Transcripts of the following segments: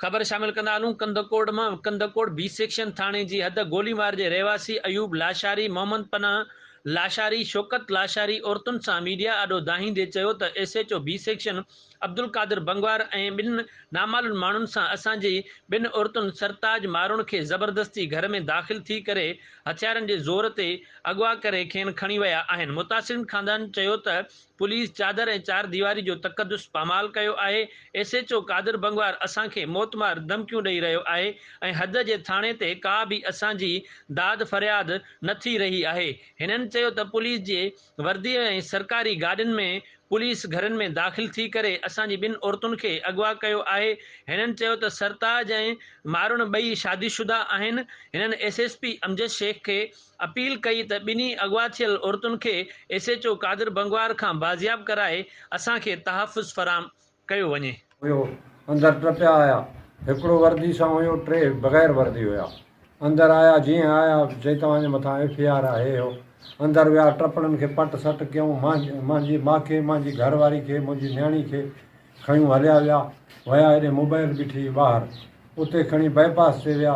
خبر شامل ڪندا هلون ڪنڌڪوٽ مان ڪنڌڪوٽ بي سيڪشن ٿاڻي جي حد گوليوار جي رهواسي ايوب لاشاري محمد پناهه لاشاري شوڪت لاشاري عورتن سان ميڊيا آڏو دانهيندي چيو ته S H O B section Abdul Qadir Bangwar ۽ ٻن نامعلون ماڻهن سان اسان جي ٻن عورتن سرتاج ماروڻ کي زبردستي گهر ۾ داخل ٿي ڪري هٿيارن جي زور تي اغوا ڪري کين کڻي ويا آهن متاثرين خاندان چيو ته پوليس چادر ۽ چار ديواري جو تقدس پامال ڪيو آهي، S H O Qadir Bangwar اسان کي موت مار ڌمڪيون ڏئي رهيو آهي ۽ حد جي ٿاڻي تي ڪا به اسان جي داد فرياد نه ٿي رهي آهي، هنن چيو ته پوليس جي وردي ۽ سرڪاري گاڏين ۾ پوليس گهرن ۾ داخل ٿي ڪري اسان جي ٻن عورتن کي اغوا ڪيو آهي، هنن چيو ته سرتاج ۽ مارڻ ٻئي شادي شده آهن، هنن S S P Amjad Shaikh کي اپيل ڪئي ته ٻنهي اغوا ٿيل عورتن کي S H O Qadir Bangwar کان بازياب ڪرائي اسان کي تحفظ فراهم ڪيو وڃي. هيو اندر ٽه پيا آيا هڪڙو وردي سان هيو ٽي بغير وردي هيا اندر آيا جيئن آيا چئي توهان جي مٿان ايف اي آر آهي هيو اندر ويا ٽپڻن کي پٽ سٽ ڪيون مانجي ماکي مانجي گهر واري کي منهنجي نياڻي کي کنيون هليا ويا ويا هيڏي موبائل بيٺي هئي ٻاهر اتي کڻي بائي پاس تي ويا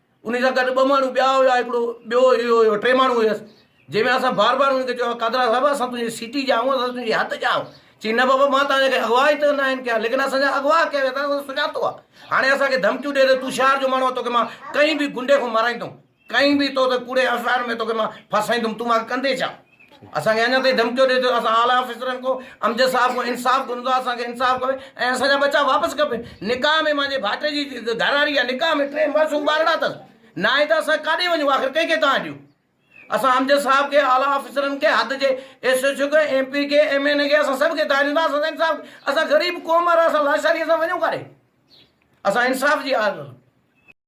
انهي سان گڏ ٻه ماڻهو ٻيا هيا هڪڙو ٻيو اهو هيو ٽي ماڻهو هيس جنهن ۾ اسان بار بار انهن کي چيو قادرا صاحب اسان تنهنجي سيٽي جا آهيون اسان تنهنجي هٿ جا آهيون چي نه بابا مان توهان کي اغوا ئي ته ناهن ڪيا ليڪن اسان جا اغوا ڪيا ويا اٿا سڃاتو آهي هاڻي اسان کي ڌمڪيون ڏي ته تون شهر جو ماڻهو آهي توکي مان ڪنهن به گنڊي کان مارائيندم ڪنهن به تو ته ڪوڙي اسرار ۾ توکي مان ڦاسائيندم تون مان ڪندين ڇا اسان کي اڃا تائين ڌمڪيو ڏئي ٿو اسان اعليٰ آفيسرن کون امجد صاحب کون انصاف گهرون ٿا اسان کي انصاف کپي ۽ اسان جا ٻچا واپس کپي نڪاح ۾ مانجهي ڀائٽي جي گهراڙي جا نڪاح ۾ ٽي معصوم ٻارڙا اٿس ناهي ته اسان ڪاڏي وڃون آخر ڪنهن کي تان ڏيون اسان امجد صاحب کي اعليٰ آفيسرن کي حد جي ايس ايچ او کي ايم پي کي ايم اين اي کي اسان سڀ کي تان ڏيون ٿا اسان سان انصاف اسان غريب قوم وارا اسان لاشاري اسان وڃون ڪاڏي اسان انصاف جي آ